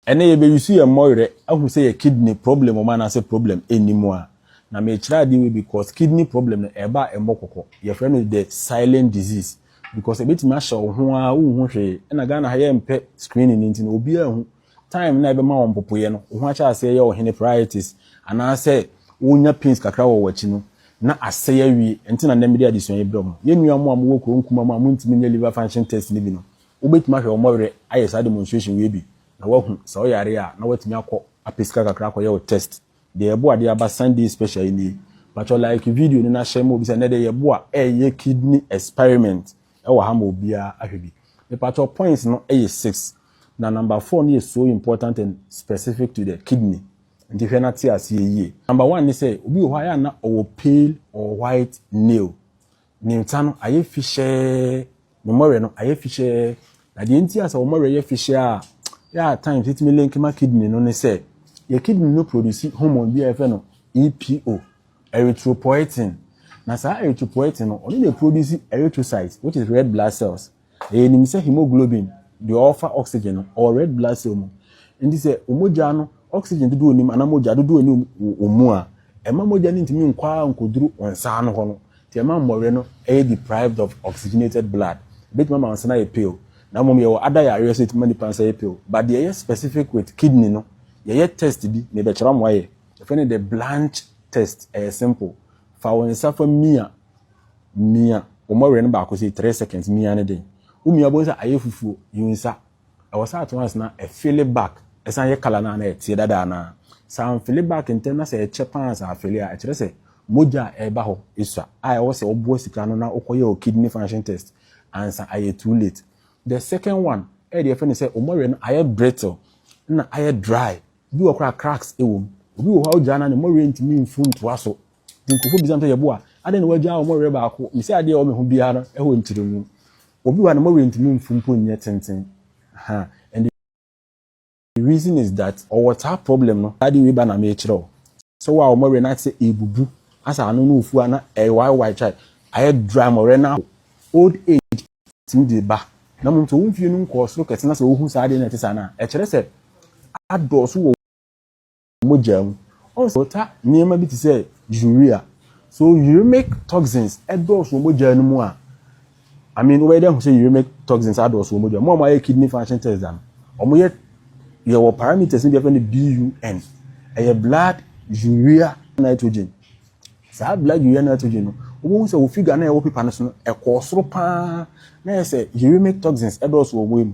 Ɛnɛ yɛ bɛ use yɛ mmɔwerɛ ahu sɛ yɛ kidney problem wɔ mu anaasɛ problem nni mu a. Na me kyerɛ adeɛ wei because kidney problem no ɛba a ɛmmɔ kɔkɔ. Yɛ frɛ no the silent disease because ɛbɛtumi ahyɛ wo ho ara wo nhu hwee. Ɛna Ghana ha yɛ mpɛ screening no nti no obi anhu. Time no a ɛbɛma wo mpopoeɛ no wo ho akyɛ aseɛ yɛ wo hene praitis anaasɛ wo nya pains kakra wɔ wakyi no na asɛe awie. Ɛnti na nnɛ me de adesua yi brɛ mo. Yɛ nua mo a mo wɔ kuro nkumaa mu a mo ntumi nyɛ liver function test no bi no Wobɛtumi ahwɛ wɔn werɛ ayɛ saa demonstration wei bi na woahu sɛ ɔyare a na woatumi akɔ apɛ sika kakra akɔyɛ wo test deɛ yɛboa de aba Sunday special yi nie mpakyɛw like video no na hyɛ ma obi sɛ nnɛ deɛ yɛboa ɛyɛ kidney experiment ɛwɔ ha ma obiara ahwɛ bi mepakyɛw points no ɛyɛ six na number four no yɛ so important and specific to the kidney nti hwɛ na te aseɛ yie number one ne sɛ obi wɔ hɔ a yɛ a na ɔwɔ pale or white nail Ne nsa no ayɛ fihyɛɛ, ne mmɔwerɛ no ayɛ fihyɛɛ. Na deɛ nti a sɛ wɔn mmɔwerɛ yɛ fihyɛɛ a, yɛ a times ɛtumi link ma kidney no ne sɛ, yɛ kidney no produce hormone bi a yɛfrɛ no EPO, erythropoietin. Na saa erythropoietin no, ɔno na ɛproduce erythrocytes, which is red blood cells. Yɛnim sɛ hemoglobin deɛ ɔrefa oxygen no, ɔwɔ red blood cell mu. Nti sɛ wo mogya no oxygen dodoɔ ɔnim anaa mogya dodoɔ ɔni wo mu a, ɛma mogya no ntumi nkɔ ara nkɔduru wo nsa ano hɔ no. Nti ɛma mmɔwerɛ no yɛ deprived of oxygenated blood. Ɛbɛtumi ama wo nsa no ayɛ pale. Na mmom yɛwɔ ada yareɛ nso ɛtumi ma nipa nsa yɛ pale. But deɛ ɛyɛ specific with kidney no, yɛyɛ test bi, mebɛkyerɛ ama woayɛ. Yɛfrɛ no the Blanch test, ɛyɛ simple. Fa wo nsa fa mia. mia wɔn werɛ no baako sɛ three seconds mia ne den womia bohu sɛ ayɛ fufuo you nsa ɛwɔ sɛ at once na ɛfili back ɛsan yɛ kala no a na ɛteɛ dada anaa sɛ amfili back ntɛm na sɛ ɛkyɛ paa sɛ afili a ɛkyerɛ sɛ mogya a ɛba hɔ ɛsua a ɛwɔ sɛ ɔboa sika no na wokɔ yɛ o kidney function test ansa ayɛ too late the second one ɛyɛ deɛ ɛfɛ no sɛ wɔn werɛ no ayɛ brittle na ayɛ dry bi wɔ koraa cracks ɛwɔ mu obi wɔ hɔ a wogyaa na ne mmɔwerɛ ntumi mfu ntoa so Nti nkorɔfoɔ bisa me sɛ, Yeboah, adɛn na woagyaa wɔn werɛ baako? Mise, Adeɛ a ɛwɔ me ho biara no wɔ ntrɛmu. Obi wɔ ha a ne mowerɛ ntumi mfu mpo nyɛ tenten. Ahaa, and the reason is that ɔwɔ saa problem no. Saa adeɛ wei ba na merekyerɛ wo. Sɛ wo a wo mowerɛ no ayɛ te sɛ ɛrebubu, asɛ ano no ofu a na ɛrewaewae, chai, ayɛ dry, mowerɛ no ahow. Old age tumi de ba. Na mmom sɛ wo mfie no nkɔɔ soro kɛse na sɛ wohu saa adeɛ no a ɛte saa no a, ɛkyerɛ sɛ adɔɔso wɔ mogya mu. Ɔwɔ sɛ ɔta nneɛma bi te sɛ urea. So uremic toxins dɔɔso wɔ mogya no mu a, I mean, wobɛyɛ dɛ ahu sɛ uremic toxins adɔɔso wɔ mogya mu. Mo a moayɛ kidney function test da no, wɔyɛ yɛwɔ parameters no bi afɛ no BUN. Ɛyɛ blood urea nitrogen. Saa blood urea nitrogen no, wobɛhu sɛ wɔ figure no a ɛwɔ paper no so no, ɛkɔɔ soro paa na yɛ sɛ uremic toxins dɔɔso wɔ mogya mu.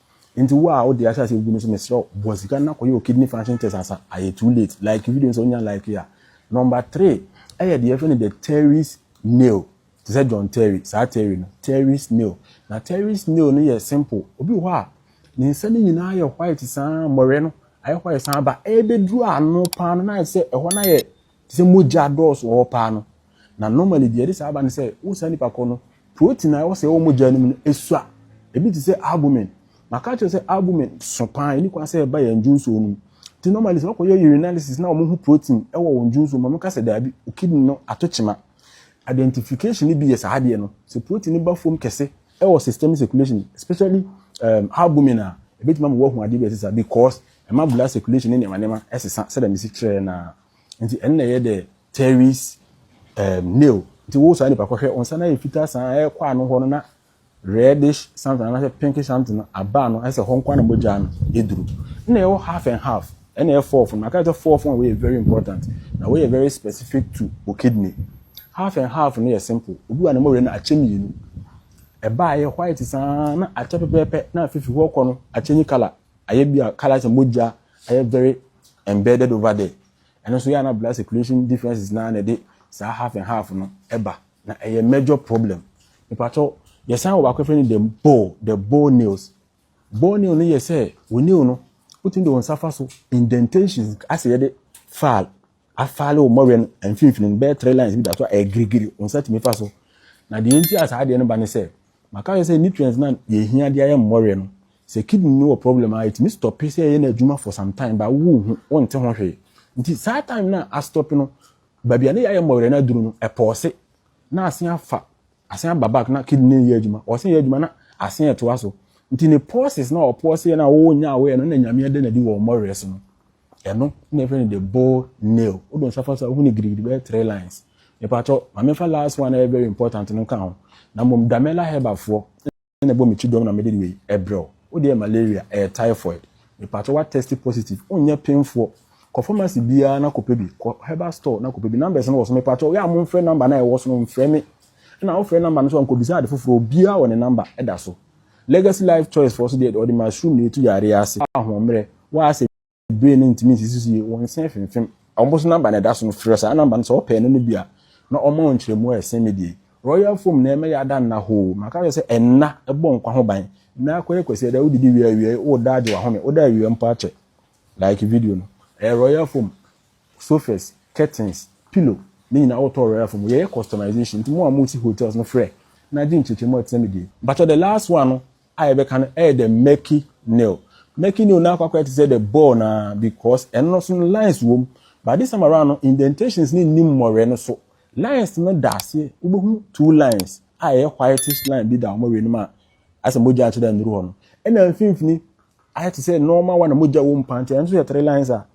Nti wo a wode ahyɛ ase agugu no nso mesrɛ wo bɔ sika no na kɔyɛ wo kidney function test ansa ayɛ too late. Like video no sɛ wonya like a. Number three ɛyɛ deɛ yɛfrɛ no the Terry snail te sɛ John Terry saa Terry no Terry snail na Terry snail no yɛ simple obi wɔ hɔ a ne nsa no nyinaa yɛ white saa mmɔwerɛ no ayɛ white saa ba ɛbɛduru ano paa no na ayɛ sɛ ɛhɔ no ayɛ te sɛ mogya dɔɔso wɔ hɔ paa no na normally deɛ ɛde saa ba no sɛ wo saa nipa kɔ no protein a ɛwɔ sɛ ɛwɔ mogya no mu no esua ebi te sɛ albumin maka kyerɛ sɛ albumin so paa ɛni kwan sɛ ɛba yɛn dwonso no mu nti normally sɛ wɔkɔyɛ urinalysis na wɔn ho protein ɛwɔ wɔn dwonso mu wɔn ka sɛ daabi o kidney no ato kyema identification no bi yɛ saa adeɛ no sɛ protein no ba fam kɛse ɛwɔ system circulation especially um, albumin a ɛbɛtumi ama wɔahu adeɛ bi ɛsesa because ɛma blood circulation ne nneɛma nneɛma ɛsesa sɛdeɛ mesi kyerɛ na nti ɛno na ɛyɛ the teres um, nail nti wo saa nipa kɔhwɛ nsa no ayɛ fitaa saa ɛyɛ kɔ ano hɔ no na reddish something anaasɛ pinkish something no aba no ɛsɛ hɔ nko na mogya no ɛduru na ɛwɔ half and half ɛna ɛyɛ fourth no maka sɛ fourth no wɔyɛ very important na wɔyɛ very specific to o kidney half and half no yɛ simple obi wa ne mɔwerɛ no akyɛ mmienu ɛbaa yɛ white saa na akyɛ pɛpɛɛpɛ na afifiri hɔ kɔ no akyɛ ni colour ayɛ bi a colors mogya ayɛ very embedded over there ɛno nso yɛ a na blood circulation differences naa na ɛde saa half and half no ɛba na ɛyɛ major problem mepakyɛw yɛsan wɔ baako fɛ no the ball the ball nails ball nail no yɛ sɛ wo nail no wotumi de wo nsa fa so indentations asɛ yɛde file afare wo mmɔwerɛ no mfimfini no bɛyɛ three lines bi da so a ɛyɛ girigiri wo nsa tumi fa so na deɛ nti a saa adeɛ no ba ne sɛ maka yɛ sɛ nutrients na yɛhia de ayɛ mmɔwerɛ no sɛ kidney no wɔ problem a ɛtumi stɔpe sɛ ɛyɛ no adwuma for some time ba wo hu wonte ho hwee nti saa time no a astɔpe no baabi a ne yɛayɛ mmɔwerɛ no aduru no ɛpɔɔse na asen afa Asen aba back na kidney no yɛ adwuma ɔse yɛ adwuma na asen ɛtoa so nti ne pulses na ɔpɔɔse yɛ no a ɔnya awɔyɛ no na nyame ɛda no adi wɔ ɔmɔwerɛ so no ɛno na ɛfrɛ no the bull nail wode nsa fa so a wohu no gidigidi bɛyɛ three lines mepakyɛw ma memfa last one a ɛyɛ very important no nka ho na mmom damela herbafoɔ na ɛbɔ me ti dɔm na mede wei ɛbrɛ wo. Wo deɛ malaria, ɛyɛ typhoid. Mepakyɛ wa test positive, wonyɛ penfoɔ. Kɔ pharmacy biara na kɔpɛ bi, kɔ herbal store na kɔpɛ bi. Numbers no wɔ so, mepakyɛ wo yɛ a monfrɛ number no a ɛwɔ so no, mfrɛ me. Ɛna wofrɛ number no so a nkɔbisa ade foforɔ, obiara wɔ ne number ɛda so. Legacy Life Choice foɔ so deɛ, ɔde mushroom na ɛtu yareɛ ase. Ahoɔmmerɛ, w'asɛm nie. bebree no ntumi nsisi so yie, wɔn nsa afimfim. Wɔn so namba na ɛda so no, frɛ saa namba no sɛ wɔpɛ ɛno no bi a, na wɔma wo nkyerɛmu a ɛsen me deɛ. Royal foam na ɛma yɛada nna hoo. Maka kyerɛ sɛ ɛnna bɔ nkwa ho ban. Nna akɔyɛ kwasiada, wodidi wie awiei, woda agye w'ahome, woda awia mpo akyɛ. Like video no. Ɛyɛ royal foam, sofas, curtains, pillow, ne nyinaa wotɔ royal foam. Yɛyɛ customization nti mo a mosi hotels no frɛ na gye nkyerɛkyerɛmu a ɛte sɛ me deɛ. Mpakyɛ the last one no a yɛbɛka no yɛ the murky nail murky nail no akɔ akɔyɛ te sɛ the ball no ara because ɛno no so no lines wɔ mu but this time around no indentations no nni mmɔwerɛ no so lines no da aseɛ wobɛhu two lines a ɛyɛ whitish line bi da wɔn awie no mu a asɛ mogya nkyerɛ nnuru hɔ no ɛna mfimfini ayɛ te sɛ normal one a mogya wɔ mu paa nti ɛno nso yɛ three lines a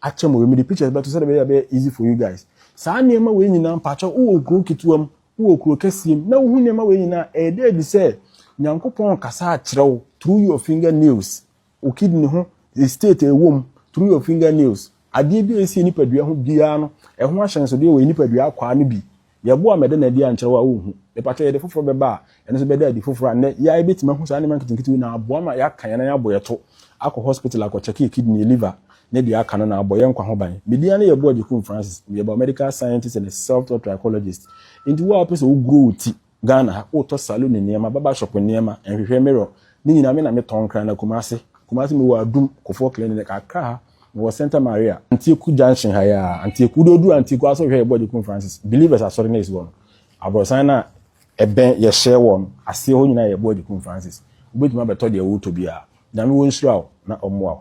akyɛ mo wei mede pictures bɛto sɛdeɛ ɛbɛyɛ a ɛbɛyɛ easy for you guys saa nneɛma wei nyinaa mpakyɛ wowɔ kuro ketewa mu wowɔ kuro kɛseɛ mu na wohu nneɛma wei nyinaa ɛyɛdɛ adi sɛ nyankopɔn kasa akyerɛ wo through your finger nails wo kidney ho state ɛwɔ mu through your finger nails adeɛ bi a ɛsi nipadua ho biara no ɛho ahyɛnsodeɛ wɔ nipadua akwaa no bi Yɛbo a mɛda no adi ankyerɛ wo a wonhu. Mepakyɛw yɛde foforo bɛba a, ɛno nso bɛda adi foforo a nnɛ yɛa yɛbɛtumi ahu saa nneɛma nketenkete wei na aboa ma yɛaka yɛn nan abɔ yɛn to akɔ hospital akɔ kyɛke yɛn kidney, yɛn liver ne deɛ aka no na abɔ yɛn nkwa ho ban. Medin ara ne Yɛbo Agyekum Francis. Meyɛ biomedical scientist and a self taught trichologist. Enti wo a wopɛ sɛ wo grow wo ti Ghana ha, wotɔ saloon nneɛma, barber shop nneɛma, nhwehwɛ mirror, ne nyinaa me na me tɔn kra na Kumasi, Kumasi mewɔ Adum, Kofoɔ Clinic, Accra ha, Mewɔ Santa Maria, Antioku junction ha yi ara. Antioku, wode oduru Antioku ara sɛ wohwɛ yɛ board Kun Francis, Believers asɔre no a esi hɔ no, aborɔsan no a ɛbɛn yɛ hyɛɛ wɔ no aseɛ hɔ nyinaa yɛ board Kun Francis. Wobɛtumi abɛtɔ deɛ woretɔ biara. Nyame wɔ nhyira wo na ɔmmoa wo.